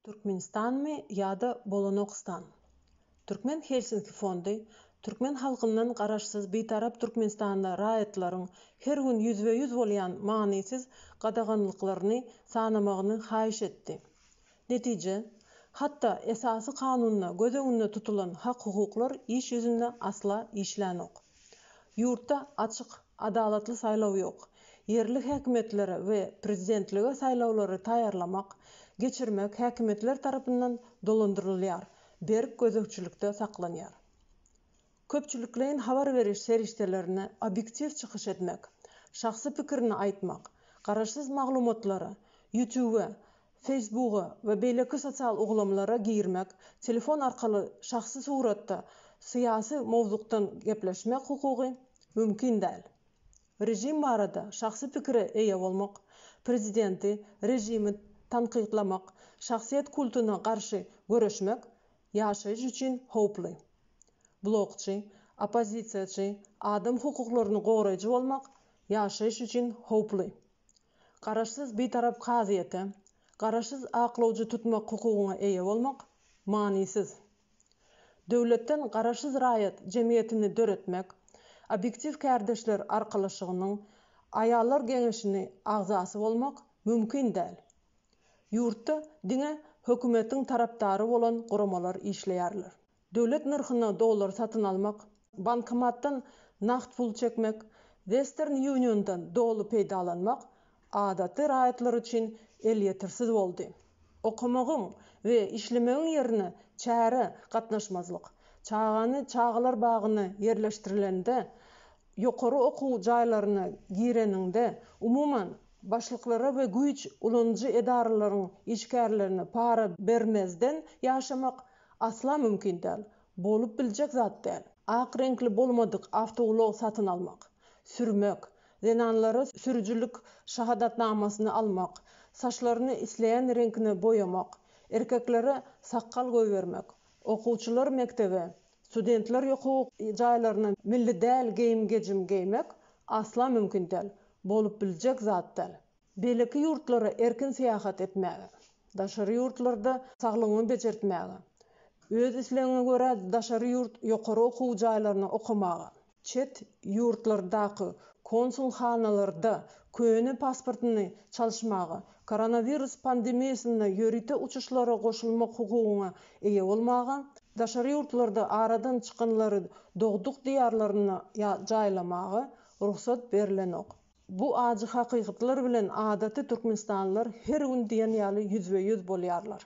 Türkmenistanmy ýa-da Bolanokstan? Türkmen Helsinki fondy türkmen halkyndan garaşsyz Bitarap Türkmenistanda raýatlaryň her gün ýüzbe-ýüz bolýan manysyz gadaganlyklaryny sanamagyny haýyş etdi. Netije, hatda Esasy Kanunda göz öňünde tutulan hak-hukuklar iş ýüzünde asla işlänok. Ýurtda açyk, adalatly saýlaw ýok. Ýerli häkimiýetlere we prezidentlige saýlawlary taýýarlamak, geçirmek häkimiýetler tarapyndan dolandyrylýar, berk gözegçilikde saklanýar. Köpçülikleýin habar beriş serişdelerine obýektiw çykyş etmek, şahsy pikirini aýtmak, garaşsyz maglumatlary Ýutube Facebooka we beýleki sosial ulgamlara girmek, telefon arkaly şahsy suratda syýasy mowzukdan gepleşmek hukugy mümkin däl. Režim barada şahsy pikire eýe bolmak, prezidenti, režimi tankytlamak, şahsyýet kultyna garşy göreşmek ýaşaýyş üçin howply. Blogçy, oppozisiýaçy, adam hukuklaryny goraýjy bolmak ýaşaýyş üçin howply. Garaşsyz Bitarap kazyýete garaşsyz aklawjy tutmak hukugyna eýe bolmak manysyz. Döwletden garaşsyz raýat jemgyýetini döretmek, Obýektiw kärdeşler arkalaşygynyň Aýallar geňeşini agzasy bolmak mümkin däl. Ýurtda diňe hökümetiň tarapdary bolan guramalar işleýärler. Döwlet nyrhyna dollar satyn almak, bankomatdan nagt pul çekmek, Western Uniondan doly peýdalanmak adaty raýatlar üçin elýetersiz boldy. Okamagyň we işlemegiň ýerine çärä gatnaşmazlyk, çagany çagalar bagyna ýerleşdirilende, ýokary okuw jaýlaryna gireniňde, umuman, başlyklara we güýç ulanyjy edaralaryň işgärlerine para bermezden ýaşamak, Asla mümkin däl. Bolup biljek zat däl. Ak reňkli bolmadyk awtoulag satyn almak, sürmek, zenanlara sürüjilik şahadatnamasyny almak, saçlaryny isleýän reňkine boýamak, erkeklere sakgal goýbermek, okuwçylar mekdebe, studentler ýoku jaýlaryna milli däl geýim-gejim geýmek asla mümkin däl. Bolup biljek zat däl. Beýleki ýurtlara erkin syýahat etmäge, daşary ýurtlarda saglygyňy bejertmäge, öz islegiňe görä daşary ýurt ýokary okuw jaýlaryna okamaga, çet ýurtlardaky konsulhanalarda köne pasportyny çalyşmaga, koronawirus pandemiýasynda ýörite uçuşlara goşulmak hukugyna eýe bolmaga, daşary ýurtlarda aradan çykanlary dogduk diýarlaryna jaýlamaga rugsat berlenok. Bu ajy hakykatlar bilen adaty türkmenistanlylar her gün diýen ýaly ýüzbe-ýüz bolýarlar.